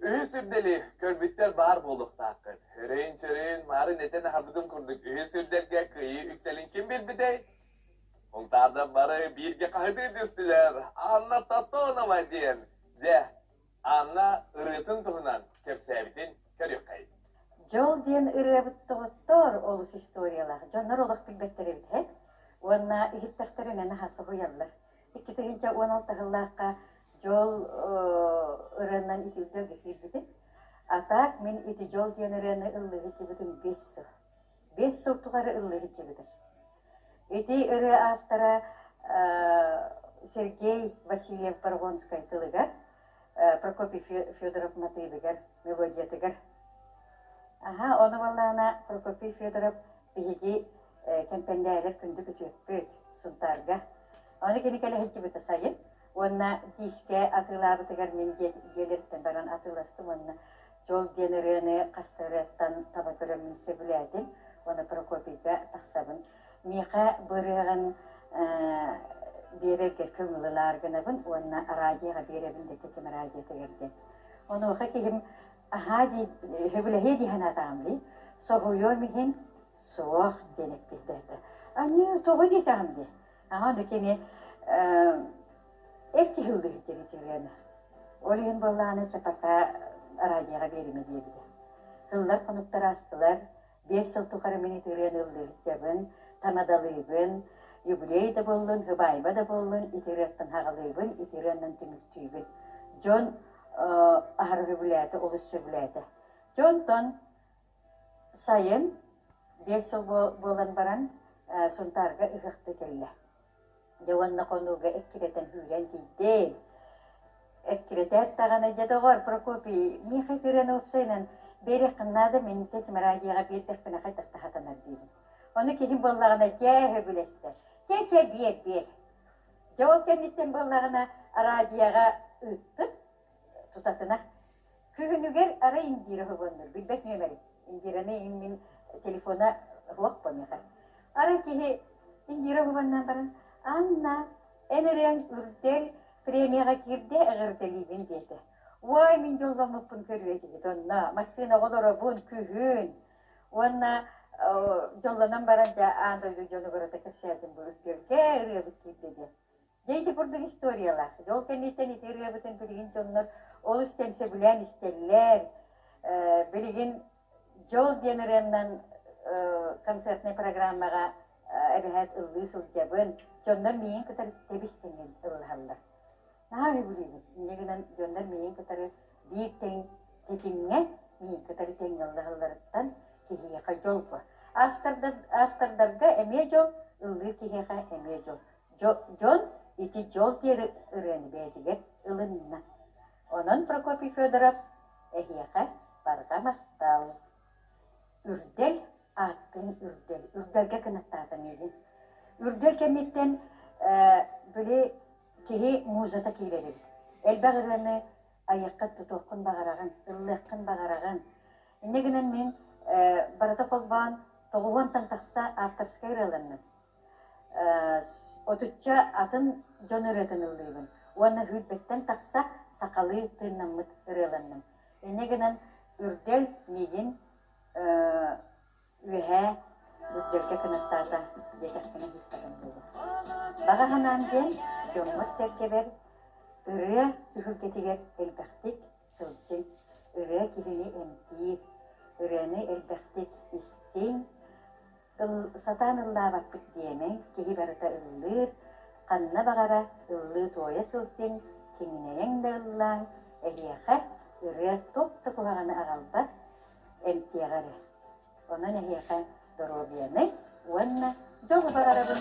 Үһүс сирдэни көрбүттэр баар буолуохтааххыт. Өрөйүн-чөрөйүн маарын этэн аһарбытын курдук үһүс сирдэргэ кыайыы үктэлин ким билбитэй? Муҥтаарда бары бииргэ хаһытыы түстүлэр. Анна Тотонова диэн. Дьэ, Анна ырыатын туһунан кэпсээбитин көрүөххэй. Дьол диэн ырыабыт доҕоттоор олус историялаах. Дьоннор олох билбэттэр эбит үһэ. Уонна иһиттэхтэринэ наһа соһуйаллар. икки тыһыынча уон алта сыллаахха дьол ырыаннан итирдэ киирбитим. Атак мин ити дьол диэн ырыаны ыллыһыччыбытым бес сыл. Бес сыл тухары ыллыһыччыбытым. Ити ырыа автора Сергей Васильев Паргонскай тылыгар, Прокопий Федоров матыыбыгар, мелодиятыгар. Аха, ону балаана Прокопий Федоров Биһиги кэмпэндээлэр күндүк үтүөппүт Сунтаарга. Ону кини кэлэһиччибитэ сайын. Уонна тиискэ атыылаабытыгар мин дьиэлэриттэн баран атыыластым уонна Чол диэн ырыаны хаста ырыаттан таба көрөммүн сөбүлээтим. Уонна Прокопийга тахсабын. Миэхэ бу ырыаҕын биэрэргэ көҥүллэнэр гынабын уонна араадьыйаҕа биэрэбин дэтэ ким араадьыйатыгар диэн. Онуоха киһим аһаа дии сөбүлэһиэ дии санаатаҕым дии соһуйуом иһин суох диэн эппиттээтэ аньыы тоҕо диэтэҕим дии аҕа онно кини эр киһи ылдыһыттыыр итириэнэ ол иһин буоллааны чапата араадьыйаҕа биэримэ диэбитэ ыллар хонуктар астылар биэс сыл тухары мин итириэн ыллыы сылдьабын, танадалыыбын, юбилей да буоллун, хыбаайба да буоллун, итирыаттан хаҕылыыбын, итирыаннан түмүктүүбүн. Дьон аһарар үбүлээтэ олус сөбүлээтэ. Дьонтон сайын биэс сыл буолан баран Сунтаарга ыһыахта кэллэ. Дьэ уонна хонууга эккирэтэн сүүрэн тиийдэм. Эккирэтээт даҕаны, дьэ доҕор, Прокопий, Миха Тиранопсайынан биэриэххин наада, мин тэтим радиоҕа биэрдэхпинэ хайдах да сатанар диибин. Ону киһим буоллаҕына, чэ, сөбүлэстэр. Чэ, чэ, биэр, биэр. Дьэ ол кэнниттэн буоллаҕына, радиоҕа ыыттым. тутатына күһүнүгэр арай индира хоһооннор билбэт нүөмэрим индираны мин телефона руах помеха арай киһи индира хоһоонноон баран анна эн эрэн үрдэл премияҕа киирдэ эҕэрдэлиибин диэтэ уой мин дьолломмуппун көрүөтигит онно массыына олоробун күһүн уонна дьоллонон баран дьэ аан дойду дьону барыта кэпсээтим бу үрдэлгэ ырыабыт киирдэ диэн Дьэ, ити курдук историялар. Дьол кэнниттэн ити ырыабытын билигин дьоннор олус иттэн сөбүлээн истэллэр. Билигин Дьол диэн ырыанан концертнай программаҕа эбэһээт ыллыы сылдьабын. Дьоннор миигин кытары тэбис-тэҥҥин ыллаһаллар. Наһаа үһүбүрүүбүт. Инньэ гынан дьоннор миигин кытары биир тэҥ тэтимҥэ миигин кытары тэҥҥэ ыллаһалларыттан киһиэхэ дьолбо. Автордарга эмиэ дьол, ыллыыр киһиэхэ эмиэ дьол. дьон ити дьол диэри ырыаны бэйэтигэр ылынна. Онон Прокопий Федоров эһиэхэ барыта махтал. Үрдэл ааттыын Үрдэл. Үрдэлгэ кынаттаата миигин. Үрдэл кэнниттэн били киһи музата киирэр эбит. Элбэх ырыаны айыаххын, тутуоххун баҕараҕын, ыллыаххын баҕараҕын. Иннэ гынан мин барыта холбоон тоҕуһуонтан тахса авторскай ырыаланным. Отучча атын дьон ырыатын ыллыыбын уонна сүүрбэттэн тахса сахалыы тыыннаммыт ырыаланным. Ини гынан Үрдэл миигин үөһээ Үрдэлгэ кынаттаата диэтэхпинэ сыыспатым буолуо. Баҕа санаам диэн дьоммор-сэргэбэр ырыа түһүлгэтигэр элбэхтик сылдьыҥ, ырыа киһини эмтиир, ырыаны элбэхтик истиҥ, Сатаан ыллаабаппыт диэмэ, киһи барыта ыллыыр, ханна баҕара ыллыы-туойа сылдьыҥ, киҥинэйэҥ да ыллааҥ, эһиэхэ ырыа туох да куһаҕаны аҕалбат, эмтиэҕэ эрэ. Онон эһиэхэ доруобуйаны уонна дьолу баҕарабын!